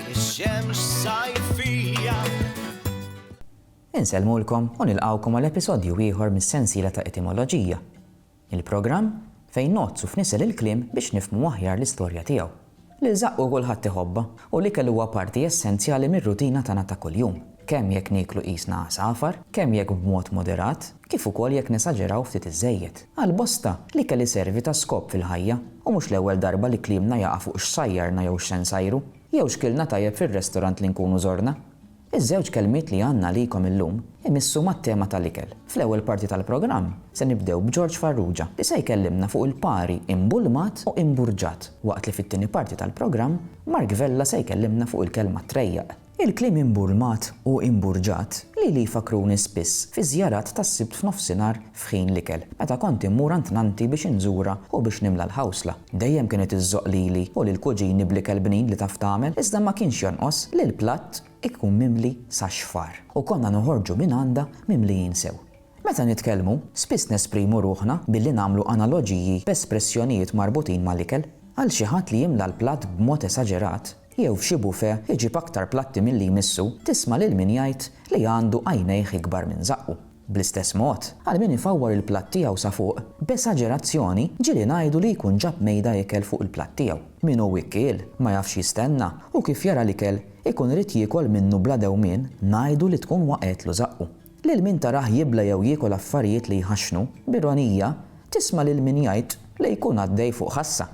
Ix-xemx sajfija. Insellmulkom u nilqgħukom għal episodju ieħor mis-sensiela ta' Etimoloġija, il-programm fejn ngħoddsu f'nisel il-kliem biex nifhmu aħjar l-istorja tiegħu. L-ilżaqq u kulħadd iħobbha, u l-ikel huwa parti essenzjali mir-rutina tagħna ta' kuljum, kemm jekk nieklu qisna għasafar, kemm jekk b'mod moderat, kif ukoll jekk nesaġeraw ftit iżżejjed. Għal bosta, l-ikel iservi ta' skop fil-ħajja, u mhux l-ewwel darba li kliemna jaqa' fuq x'sajjarna jew x'se nsajru, jew x'kilna tajjeb fir-restorant li nkunu żorna. Iż-żewġ kelmiet li għandna għalikom illum imissu mat-tema tal-ikel. Fl-ewwel parti tal-programm, se nibdew b'Ġorġ Farrugia li se jkellimna fuq il-pari imbulmat u imburġat, waqt li fit-tieni parti tal-programm, Mark Vella se jkellimna fuq il-kelma trejjaq. Il-kliem imburmat u imburġat lili jfakkruni spiss fiż-żjarat tas-Sibt f'nofsinhar f'ħin l-ikel, meta kont immur għand nannti biex inżurha u biex nimla l-ħawsla. Dejjem kienet iżżoqq lili u lill-kuġini bl-ikel bnin li taf tagħmel, iżda ma kienx jonqos li l-platt ikun mimli sax-xfar u konna noħorġu mingħandha mimlijin sew. Meta nitkellmu, spiss nesprimu ruħna billi nagħmlu analoġiji b'espressjonijiet marbutin mal-ikel. Għal xi ħadd li jimla l-platt b'mod esaġerat, jew f'xi bufè iġib aktar platti milli jmissu, tisma' lil min jgħid li għandu għajnejh ikbar minn żaqqu. Bl-istess mod, għal min ifawwar il-platt tiegħu sa fuq, b'esaġerazzjoni ġieli ngħidu li jkun ġab mejda ikel fuq il-platt tiegħu. Min hu wikkiel, ma jafx jistenna, u kif jara l-ikel, ikun irid jiekol minnu bla dewmien, ngħidu li tkun waqgħetlu żaqqu. Lil min tarah jibla jew jiekol affarijiet li jħaxxnu, b'ironija, tisma' lil min jgħid li jkun għaddej fuq ħassa.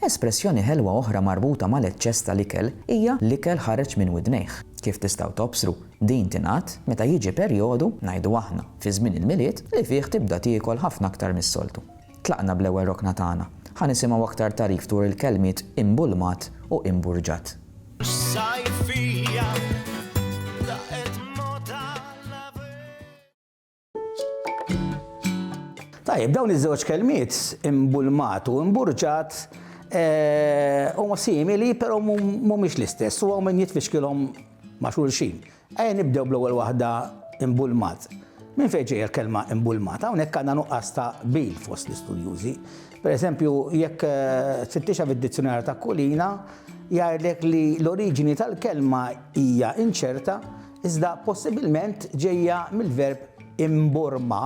Espressjoni ħelwa oħra marbuta mal-eċċess tal-ikel hija l-ikel ħareġ minn widnejh. Kif tistgħu tobsru, din tingħad meta jiġi perjodu, ngħidu aħna, fi żmien il-Milied, li fih tibda tiekol ħafna aktar mis-soltu. Tlaqna bl-ewwel rokna tagħna. Ħa nisimgħu aktar tagħrif dwar il-kelmiet imbulmat u imburġat. Tajjeb, dawn iż-żewġ kelmiet imbulmat u imburġat eh, huma simili però mhumiex l-istess u hawn min jitfixkilhom ma' xulxin. Ejja nibdew bl-ewwel waħda imbulmat. Min fejn ġejja l-kelma imbulmata, hawnhekk għandna nuqqas ta' bil fost l-istudjużi. Per eżempju, jekk eh, tfittixa fid-dizzjonarju ta' kulina, jgħidlek li l-oriġini tal-kelma hija inċerta iżda possibilment ġejja mill-verb imborma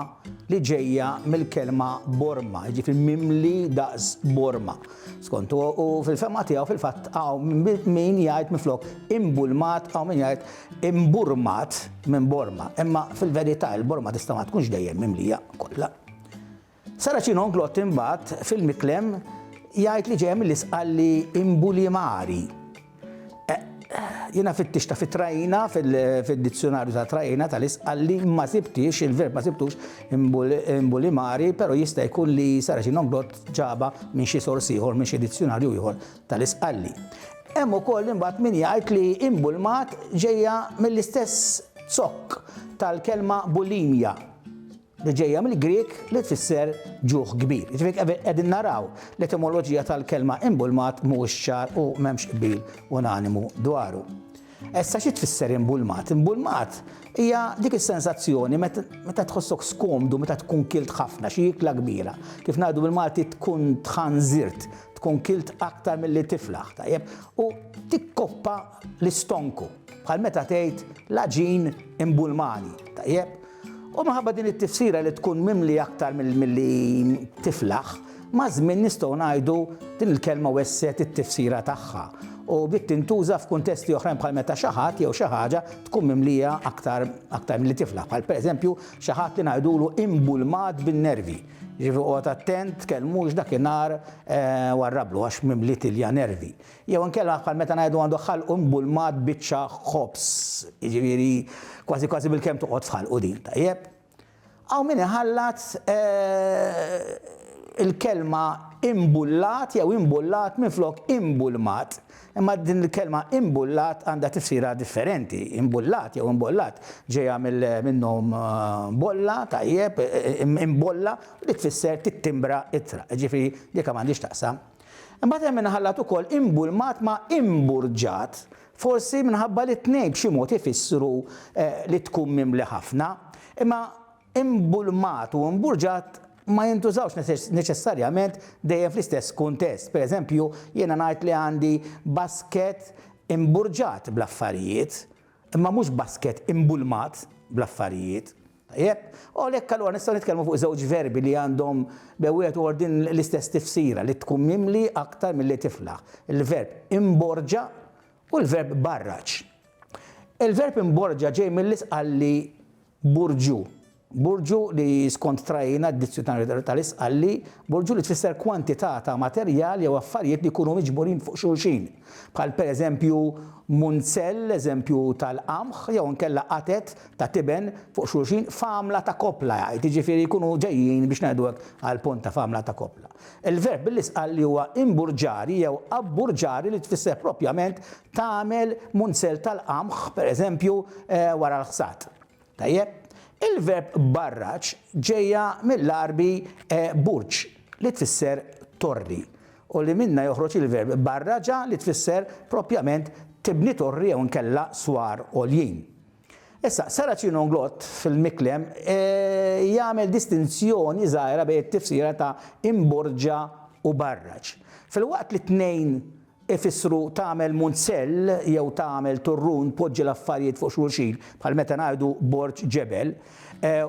li ġejja mill-kelma borma, jiġifieri mimli daqs borma. Skont u fil-fema tiegħu fil-fatt hawn min jgħid minflok imbulmat hawn min jgħid imburmat minn borma. Imma fil-verità il-borma tista' ma tkunx dejjem mimlija kollha. Saracino Anglott imbagħad fil-miklem jgħid li ġejja mill-Isqalli imbulimari. Jiena fittixta fit-trajna, fid-dizzjonarju ta' trajna tal-isqalli, ma sibtix, il-verb ma sibtux imbulimari, pero jista' jkun li Saracino Anglott ġaba minn xi sors ieħor, minn xi dizzjonarju ieħor tal-isqalli. Hemm ukoll imbagħad min jgħid li imbulmat ġejja mill-istess zokk tal-kelma bulimja. li ġejja mill-Grieg li tfisser ġuħ kbir. Jiġifieri qegħdin naraw l-etimoloġija tal-kelma imbulmat mhuwiex ċar u m'hemmx qbil unanimu dwaru. Issa xi tfisser imbulmat? Imbulmat hija dik is-sensazzjoni meta tħossok skomdu, meta tkun kilt ħafna xi ikla kbira. Kif ngħidu bil-Malti tkun tħanżirt, tkun kilt aktar milli tiflaħ, tajjeb, u tikkoppa l-istonku. Bħal meta tgħid l-aġin imbulmani, tajjeb, U minħabba din it-tifsira li tkun mimli aktar milli tiflaħ, maż-żmien nistgħu ngħidu din il-kelma wessgħet it-tifsira tagħha u bdiet tintuża f'kuntesti oħrajn bħal meta xi ħadd jew xi ħaġa tkun mimlija aktar aktar milli tiflaħ, bħal pereżempju xi ħadd li ngħidulu imbulmat bin-nervi. Ġifi qgħod attent, tkellmux dakinhar eh, warrablu għax mimli tilja nervi. Jew inkella bħal meta ngħidu għandu ħalqu mbulmat biċċa ħobż, jiġifieri kważi kważi bilkemm toqgħod f'ħalqu din, tajjeb? Hawn min iħallat il-kelma imbullat jew imbullat minflok imbulmat, imma din il-kelma imbullat għandha tifsira differenti, imbullat jew imbollat ġejja mill-minnu bolla, tajjeb, imbolla, u dik tfisser tittimbra ittra, jiġifieri dik m'għandhiex x'taqsam Imbagħad hemm inħallat ukoll imbulmat ma' imburġat, forsi minħabba li t-tnejn b'xi mod ifissru li tkun mimli ħafna. Imma imbulmat u imburġat ma jintużawx neċessarjament dejjem fl-istess kuntest. Pereżempju, jiena ngħid li għandi basket imburġat bl-affarijiet, imma mhux basket imbulmat bl-affarijiet. Tajjeb, u għalhekk allura nistgħu nitkellmu fuq żewġ verbi li għandhom bejn wieħed u ieħor din l-istess tifsira li tkun mimli aktar milli tiflaħ, il-verb imborġa u l-verb barraġ. Il-verb imborġa ġej mill-isqalli burġu. Burġu li skont trajina d-dizzjonarju tal-isqalli, burġu li tfisser kwantità ta' materjal jew affarijiet li jkunu miġburin fuq xulxin, bħal pereżempju munzell, eżempju tal-qamħ, jew inkella qatet ta' tiben fuq xulxin f'għamla ta' koppla jgħid, jiġifieri jkunu ġejjin biex ngħidu hekk għall-punt ta' f'għamla ta' koppla. Il-verb billi sqal li huwa imburġari jew abburġari li tfisser propjament tagħmel munzell tal-qamħ, pereżempju, wara l-ħsad. Tajjeb? Il-verb barraġ ġejja mill-Għarbi burġ li tfisser torri u li minnha joħroġ il-verb barraġa li tfisser propjament tibni torri jew inkella swar għoljin. Issa, Saracino Nglott fil-Miklem jagħmel distinzjoni żgħira bejn it-tifsira ta' imborġa u barraġ. Filwaqt li t-tnejn ifissru tagħmel munzell jew tagħmel turrun tpoġġi l-affarijiet fuq xulxin, bħal meta ngħidu borġ ġebel,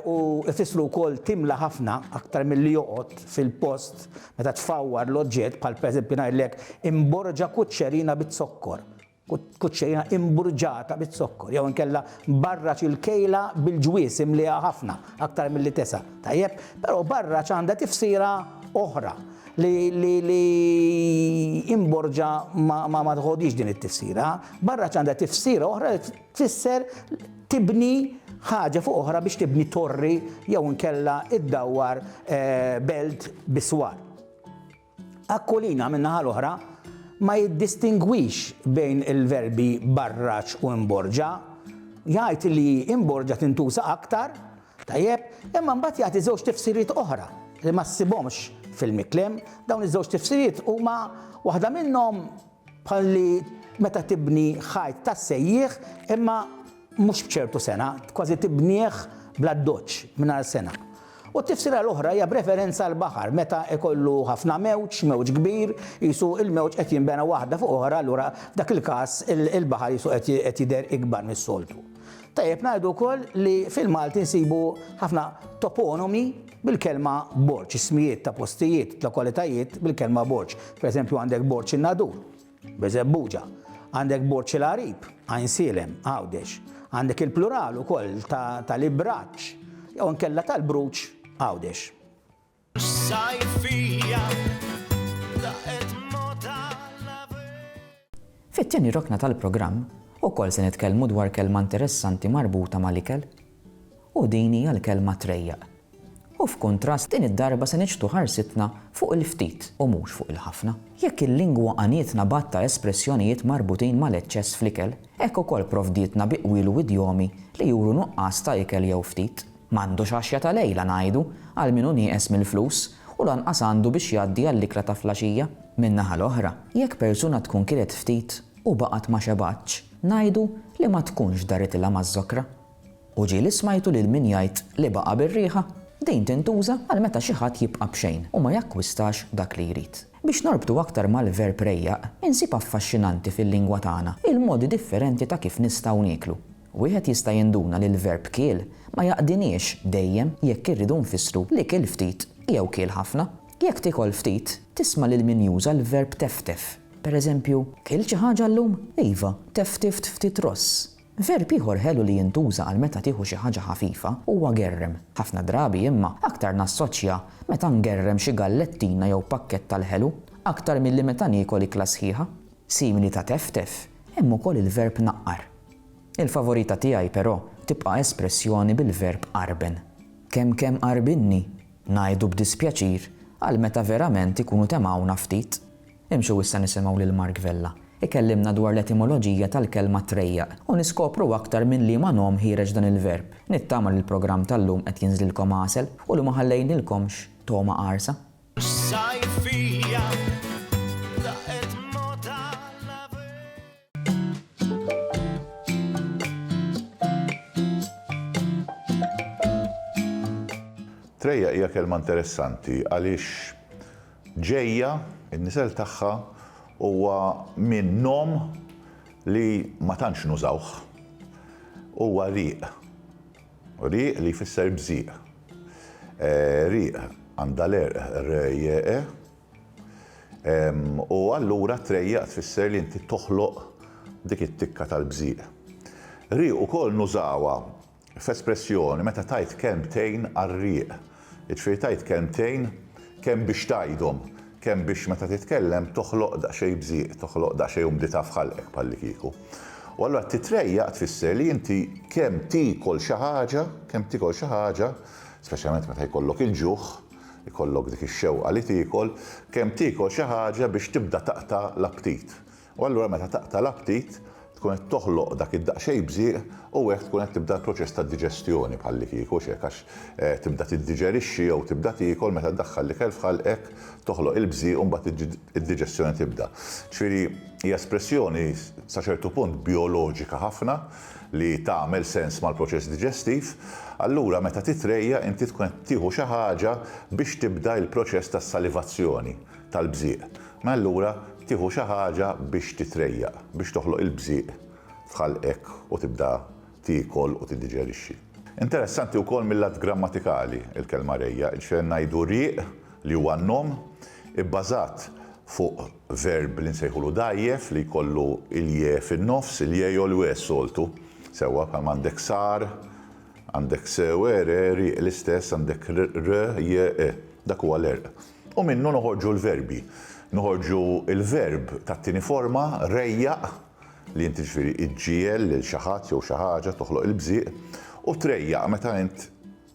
u ifissru wkoll timla ħafna aktar milli joqgħod fil-post meta tfawwar l-oġġett, bħal pereżempju ngħidlek imborġa kuċċerina biz-zokkor. kuċċejna imburġata biz-zokkor jew inkella barraġ il-kejla bil-ġwież imliha ħafna aktar milli tesa', tajjeb? Però barraġ għandha tifsira oħra li imborġa ma tħoddix din it-tifsira. Barraġ għandha tifsira oħra li tfisser tibni ħaġa fuq oħra biex tibni torri jew inkella iddawwar eh, belt biswar. Aquilina, min-naħa l-oħra, ma jiddistingwix bejn il-verbi barraġ u imborġa. Jgħid li imborġa tintuża aktar, tajjeb, imma mbagħad jagħti żewġ tifsiriet oħra li ma ssibhomx fil-Miklem. Dawn iż-żewġ tifsiriet huma waħda minnhom Bħal li meta tibni ħajt tas-sejjieħ imma mhux b'ċertu sengħa, kważi tibnieh bl-addoċċ, mingħajr sengħa. U t-tifsira l-oħra hija b'referenza għall-baħar, meta jkollu ħafna mewġ, mewġ kbir, qisu l-mewġ qed jinbena waħda fuq oħra, allura f'dak il-każ il-baħar qisu qed jidher ikbar mis-soltu. Tajjeb ngħidu wkoll li fil-Malti nsibu ħafna toponomi bil-kelma Borġ, ismijiet ta' postijiet, lokalitajiet bil-kelma Borġ. Pereżempju għandek Borġ in-Nadur, Beżebbuġa, għandek Borġ il-Għarib, Għajnsielem, Għawdex, għandek il-plural ukoll ta' l-Ibraġġ jew inkella tal-Bruġ, Għawdex. Fit-tieni rokna tal-programm ukoll se nitkellmu dwar kelma interessanti marbuta mal-ikel u din hija l-kelma trejjaq. U f'kuntrast din id-darba se niġbdu ħarsitna fuq il-ftit u mhux fuq il-ħafna. Jekk il-lingwa għanietna b'għadd ta' espressjonijiet marbutin mal-eċċess fl-ikel, hekk ukoll provdietna bi qwiel u idjomi li juru nuqqas ta' ikel jew ftit. M'għandux għaxja ta' lejla ngħidu għal min hu nieqes mill-flus u lanqas għandu biex jgħaddi għall-ikla ta' flaxija. Min-naħa l-oħra, jekk persuna tkun kilet ftit u baqgħet ma xebgħatx, ngħidu li ma tkunx daritilha maż-żokra. U ġieli smajtu lil min jgħid li baqa' bir-riħa? Din tintuża għal meta xi ħadd jibqa' b'xejn u ma jakkwistax dak li jrid. Biex norbtu aktar mal-verb rejjaq, insib affaxxinanti fil-lingwa tagħna il-modi differenti ta' kif nistgħu nieklu. Wieħed jista' jinduna li l-verb kiel ma jaqdiniex dejjem jekk irridu nfissru li kiel ftit jew kiel ħafna. Jekk tiekol ftit, tisma' lil min juża l-verb teftef. Per eżempju, Kilt xi ħaġa llum? Iva, teftift ftit ross. Verb ieħor ħelu li jintuża għal meta tieħu xi ħaġa ħafifa huwa gerrem. Ħafna drabi, imma, aktar nassoċja meta ngerrem xi gallettina jew pakkett tal-ħelu aktar milli meta niekol ikla sħiħa. Simili ta' teftef, hemm ukoll il-verb naqqar. Il-favorita tiegħi, però, tibqa' espressjoni bil-verb qarben. Kemm kemm qarbinni, ngħidu b'dispjaċir, għal meta verament ikunu temgħuna ftit. Imxu issa nisimgħu lil Mark Vella ikellimna dwar l-etimoloġija tal-kelma trejjaq u niskopru aktar minn liema nom ħiereġ dan il-verb. Nittama li l-programm tal-lum qed jinżlilkom għasel u li ma ħallejnilkomx togħma qarsa. Trejjaq hija kelma interessanti għaliex ġejja, in-nisel tagħha huwa minn nom li ma tantx nużawh, huwa riq. Rieq li jfisser bżieq. Rieq għandha l-għerq r-r-j-e, u allura trejjaq tfisser li inti toħloq dik it-tikka tal-bżieq. Rieq ukoll nużawha f'espressjoni meta tgħid kelmtejn għar-rieq. Jiġifieri tgħid kelmtejn kemm biex tgħidhom, kemm biex meta titkellem toħloq daqsxejn bżieq, toħloq daqsxejn umdità f'ħalqek bħallikieku. U allura titrejjaq tfisser li inti kemm tiekol xi ħaġa, kemm tiekol xi ħaġa, speċjalment meta jkollok il-ġuħ, ikollok dik ix-xewqa li tiekol, kemm tiekol xi ħaġa biex tibda taqta' l-aptit. U allura meta taqta' l-aptit, tkun qed toħloq dak id-daqsxejn bżieq u hekk tkun qed tibda l-proċess ta' diġestjoni bħallikieku, hux hekk, għax tibda tiddiġerixxi jew tibda tiekol meta ddaħħal l-ikel f'ħalqek, toħloq il-bżieq u mbagħad id-diġestjoni tibda. Ġifieri hija espressjoni sa ċertu punt bijoloġika ħafna li tagħmel sens mal-proċess diġestiv. Allura meta titrejjaq inti tkun qed tieħu xi ħaġa biex tibda il-proċess tas-salivazzjoni. tal-bżieq. Mela allura tieħu xi ħaġa biex titrejjaq, biex toħloq il-bżieq f'ħalqek u tibda tiekol u tiddiġerixxi. Interessanti wkoll mil-lat grammatikali l-kelma rejjaq, jiġifieri ngħidu rieq li huwa n-nom, ibbażat fuq verb li nsejħulu dgħajjef li jkollu il-je fin-nofs, il-je jew l-we s-soltu, sewwa bħalma għandek sar, għandek se, we, re, rieq, l-istess għandek r, je, e. Dak huwa l-għerq. U minnu noħorġu l-verbi. Noħorġu l-verb tat-tieni forma, rejjaq, li int jiġifieri iġġiegħel lil xi ħadd jew xi ħaġa, toħloq il-bżieq, u trejjaq meta int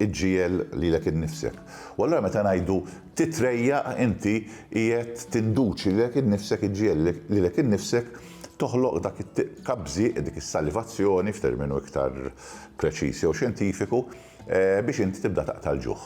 iġġiegħel lilek innifsek. U allura meta ngħidu titrejjaq inti qiegħed tinduċi lilek innifsek iġġiegħel lilek innifsek toħloq dak it-tiqqa bżieq, dik is-salivazzjoni f'terminu iktar preċiż jew xjentifiku, biex inti tibda taqta' l-ġuħ.